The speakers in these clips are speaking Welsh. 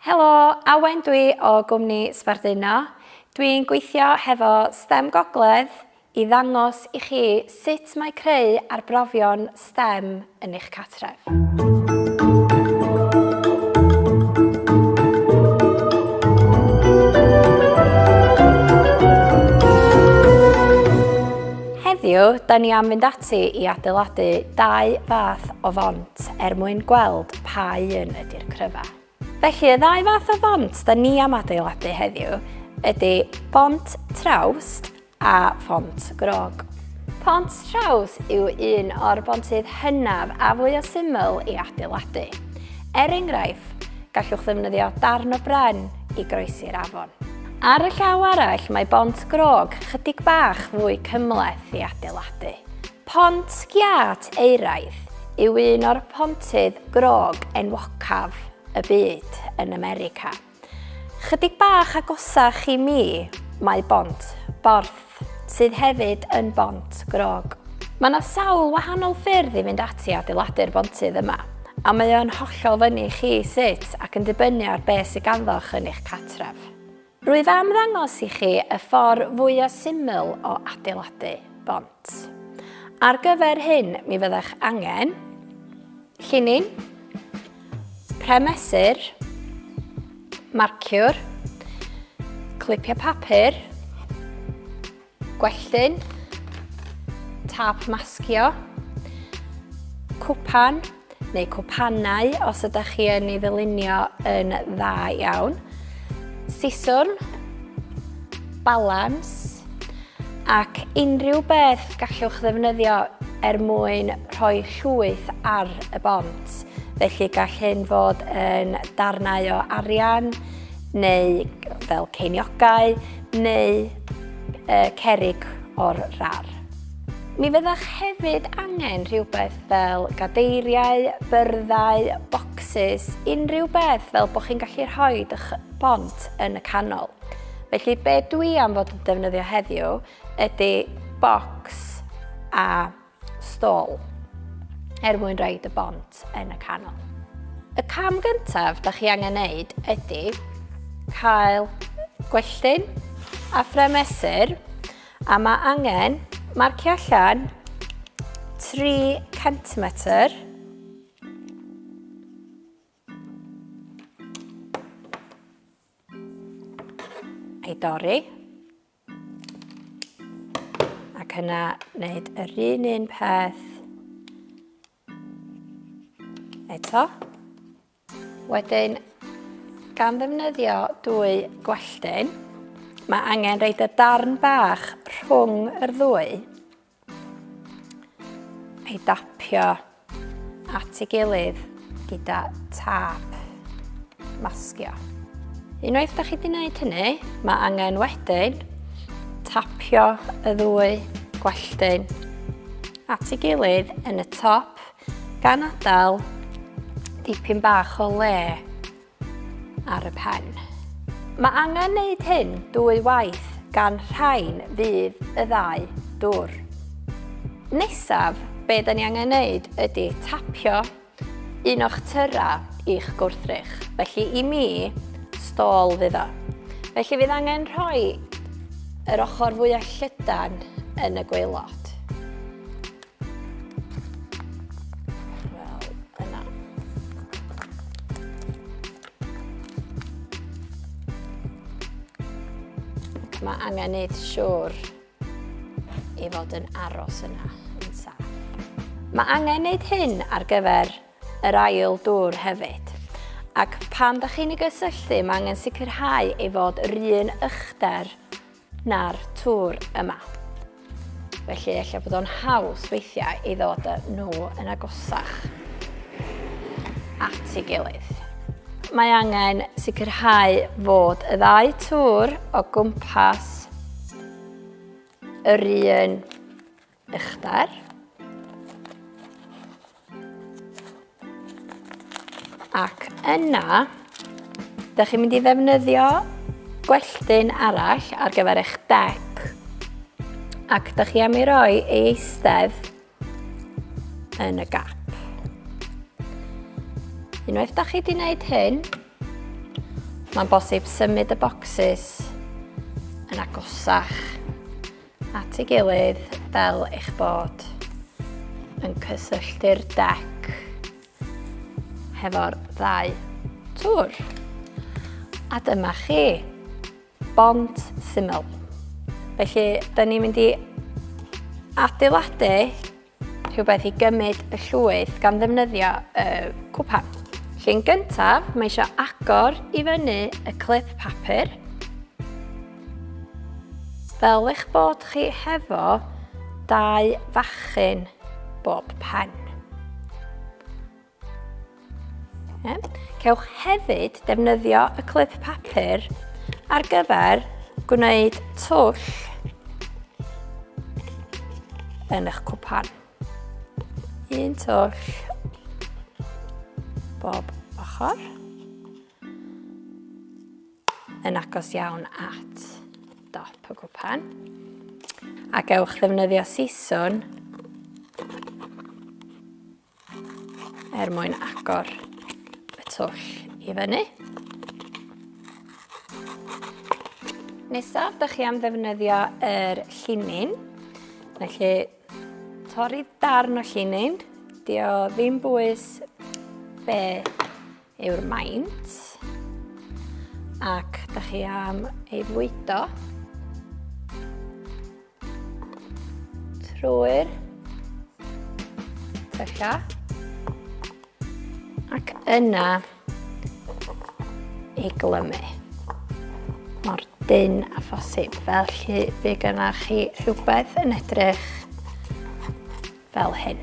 Helo, Awen dwi o gwmni Sbarduno. Dwi'n gweithio hefo stem Gogledd i ddangos i chi sut mae creu arbrofion stem yn eich cartref. Heddiw, da ni am fynd ati i adeiladu dau fath o font er mwyn gweld pa un ydy'r cryfa. Felly, y ddau fath o font da ni am adeiladu heddiw ydy bont traws a font grog. Pont traws yw un o'r bontydd hynaf a fwy o syml i adeiladu. Er enghraifft, gallwch ddefnyddio darn o bren i groesi'r afon. Ar y llaw arall, mae bont grog chydig bach fwy cymleth i adeiladu. Pont Giât Euraidd yw un o'r pontydd grog enwocaf y byd yn America. Chydig bach agosach i mi mae Bont Borth, sydd hefyd yn bont grog. Mae yna sawl wahanol ffyrdd i fynd ati adeiladu'r bontydd yma, a mae o'n hollol fyny chi sut ac yn dibynnu ar beth sydd ganddoch yn eich catref. Rwyf am ddangos i chi y ffordd fwya syml o adeiladu bont. Ar gyfer hyn mi fyddech angen llinyn, premesur, marciwr, clipiau papur, Gwelltyn, tap masgio, cwpan neu cwpanau os ydych chi yn ei ddylunio yn dda iawn, siswrn, balans ac unrhyw beth gallwch ddefnyddio er mwyn rhoi llwyth ar y bont. Felly gall hyn fod yn darnau o arian neu fel ceiniogau neu y cerrig o'r rar. Mi fyddech hefyd angen rhywbeth fel gadeiriau, byrddau, bocsys, unrhyw beth fel bod chi'n gallu rhoi eich bont yn y canol. Felly be dwi am fod yn defnyddio heddiw ydy bocs a stôl er mwyn roed y bont yn y canol. Y cam gyntaf da chi angen neud ydy cael gwelltyn a ffremesur a mae angen marcio allan 3 cm ei dorri Ac yna wneud yr un un peth eto. Wedyn, gan ddefnyddio dwy gwelltyn, mae angen reid y darn bach rhwng yr ddwy ei dapio at ei gilydd gyda tap masgio. Unwaith da chi wedi gwneud hynny, mae angen wedyn tapio y ddwy gwelltyn at ei gilydd yn y top gan adael dipyn bach o le ar y pen. Mae angen wneud hyn dwy waith gan rhain fydd y ddau dwr. Nesaf, be da ni angen wneud ydy tapio un o'ch tyra i'ch gwrthrych. Felly i mi, stôl fydd o. Felly fydd angen rhoi yr ochr fwyaf llydan yn y gweilod. Mae angen neud siwr i fod yn aros yna yn saff. Mae angen neud hyn ar gyfer yr ail dŵr hefyd. Ac pan da chi'n ei gysylltu, mae angen sicrhau ei fod yr un ychder na'r tŵr yma. Felly efallai bod o'n haws weithiau i ddod â nhw yn agosach at ei gilydd. Mae angen sicrhau fod y ddau tŵr o gwmpas yr un uchder. Ac yna, da chi'n mynd i ddefnyddio gwelltyn arall ar gyfer eich dec. Ac da chi am i roi ei eistedd yn y gap. Unwaith da chi wedi gwneud hyn, mae'n bosib symud y bocsys yn agosach at ei gilydd fel eich bod yn cysylltu'r dec hefo'r ddau tŵr. A dyma chi, bont syml. Felly, da ni'n mynd i adeiladu Rhywbeth i gymryd y llwyth gan ddefnyddio y cwpan. Llun gyntaf, mae eisiau agor i fyny y clip papur. Fel eich bod chi hefo dau fachyn bob pen. Cewch hefyd defnyddio y clip papur ar gyfer gwneud twll yn eich cwpan. Un twll bob ochr yn agos iawn at dop y gwpan a gewch ddefnyddio siswn er mwyn agor y twll i fyny. Nesaf, da chi am ddefnyddio yr llinyn. Felly, torri darn o llinyn. Di o ddim bwys be yw'r maint ac da chi am ei fwydo trwy'r tylla ac yna ei glymu mor dyn a phosib felly fe gynnach chi rhywbeth yn edrych fel hyn.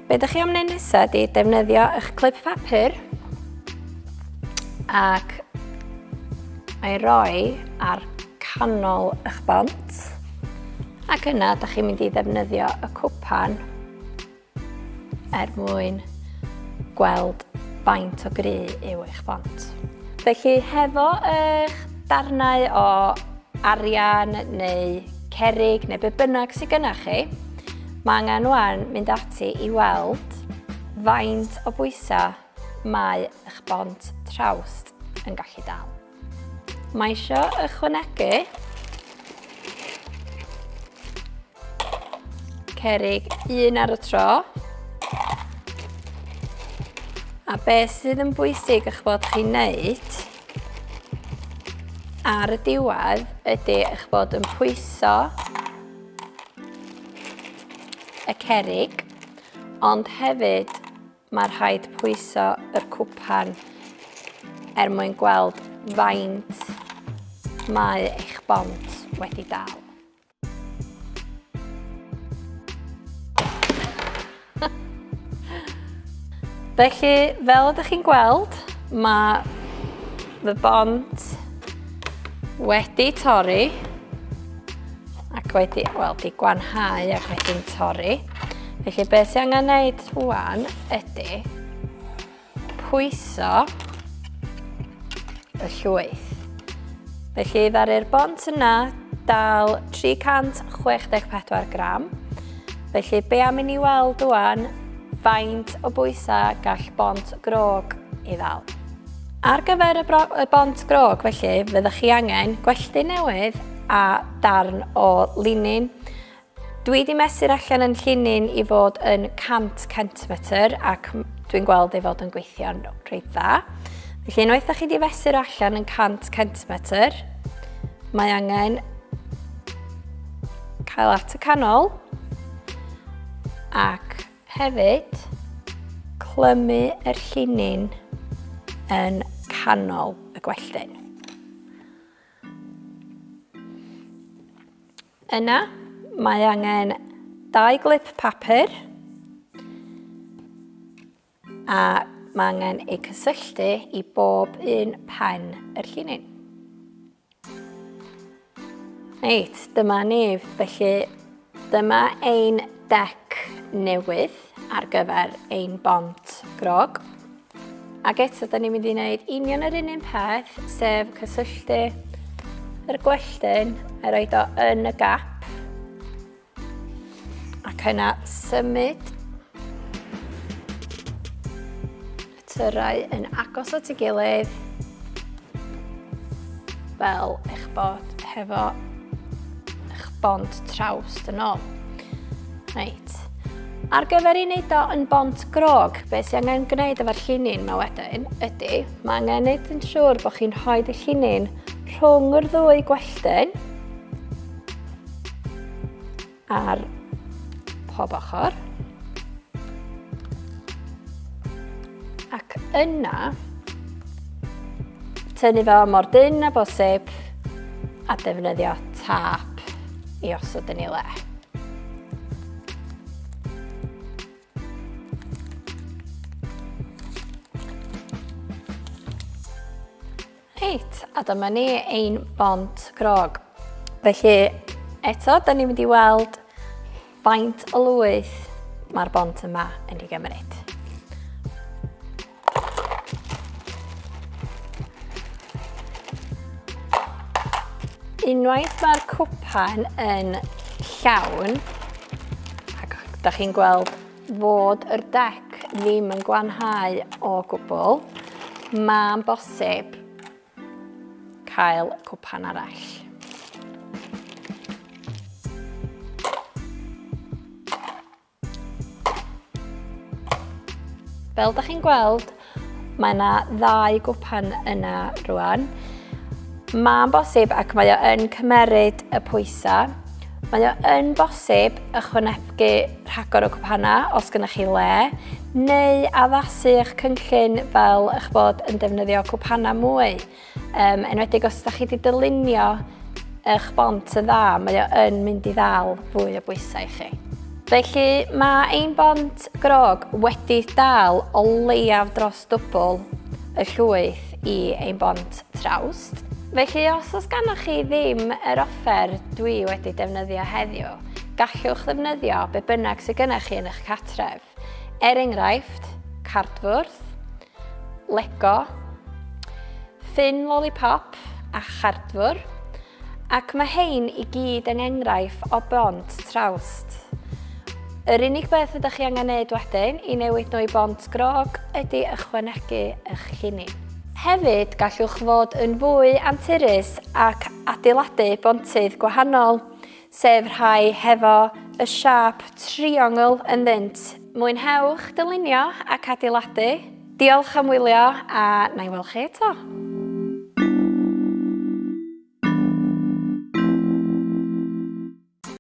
Be ydych chi am wneud nesaf ydy defnyddio eich clip papur ac ei roi ar canol eich bont ac yna ydych chi'n mynd i ddefnyddio y cwpan er mwyn gweld faint o gry yw eich bont. Felly hefo eich darnau o arian neu cerig neu be bynnag sydd gyda chi, mae angen wan mynd ati i weld faint o bwysau mae eich bont trawst yn gallu dal. Mae isio ychwanegu cerig un ar y tro. A be sydd yn bwysig eich bod chi'n neud ar y diwedd ydy eich bod yn pwyso y cerig, ond hefyd Mae rhaid pwyso yr cwpan er mwyn gweld faint mae eich bont wedi dal. Felly, fel ydych chi'n gweld, mae fy bont wedi torri ac wedi, wel, di gwanhau ac wedi'n torri. Felly beth sy'n angen wneud rwan ydy pwyso y llwyth. Felly ddaru'r bont yna dal 364 gram. Felly be am i ni weld rwan faint o bwysau gall bont grog i ddal. Ar gyfer y, bro, y bont grog felly, fyddwch chi angen gwelltu newydd a darn o linin. Dwi wedi mesur allan yn llinyn i fod yn 100 centimetr ac dwi'n gweld ei fod yn gweithio'n reit dda. Felly unwaith da chi wedi fesur allan yn 100 centimetr, mae angen cael at y canol ac Hefyd, clymu yr llinyn yn canol y gwelltyn. Yna, mae angen dau glip papur a mae angen eu cysylltu i bob un pen yr llinyn. Reit, dyma ni. Felly, dyma ein dec newydd ar gyfer ein bont grog. Ac eto, da ni'n mynd i wneud union yr un un peth, sef cysylltu yr gwelltyn a roed o yn y gap. Ac yna symud y tyrau yn agos at ei gilydd fel eich bod hefo eich bont traws yn ôl. Reit. Ar gyfer i wneud o yn bont grog, be sy'n angen gwneud efo'r llinyn yma wedyn ydy, mae angen gwneud yn siŵr bod chi'n rhoi y llinyn rhwng yr ddwy gwelltyn. ar pob ochr. Ac yna, tynnu fo mor dyn a bosib a defnyddio tap i osod yn ei le. Reit, a dyma ni ein bont grog. Felly, eto, da ni'n mynd i weld faint o lwyth mae'r bont yma yn ei gymryd. Unwaith mae'r cwpan yn llawn, ac da chi'n gweld fod yr dec ddim yn glanhau o gwbl, mae'n bosib cael cwpan arall. Fel da chi'n gweld, Mae yna ddau gwpan yna rwan. Mae'n bosib ac mae o yn cymeryd y pwysau. Mae o yn bosib ychwanegu rhagor o gwpana os gynnwch chi le, neu addasu eich cynllun fel eich bod yn defnyddio cwpana mwy. Um, enwedig os ydych chi wedi dylunio eich bont yn dda, mae o yn mynd i ddal fwy o bwysau i chi. Felly mae ein bont grog wedi dal o leiaf dros dwbl y llwyth i ein bont trawst. Felly os oes gannoch chi ddim yr offer dwi wedi defnyddio heddiw, gallwch ddefnyddio be bynnag sydd gennych chi yn eich catref. Er enghraifft, cardfwrdd, Lego, ffyn lollipop a chardfwr, ac mae hein i gyd yng engraif o bont trawst. Yr unig beth ydych chi angen neud wedyn i newid nhw i bont grog ydy ychwanegu eich lluni. Hefyd, gallwch fod yn fwy anturus ac adeiladu bontydd gwahanol, sef rhai hefo y siâp triongl ynddynt. Mwynhewch dylunio ac adeiladu! Diolch am wylio a na i weld chi eto!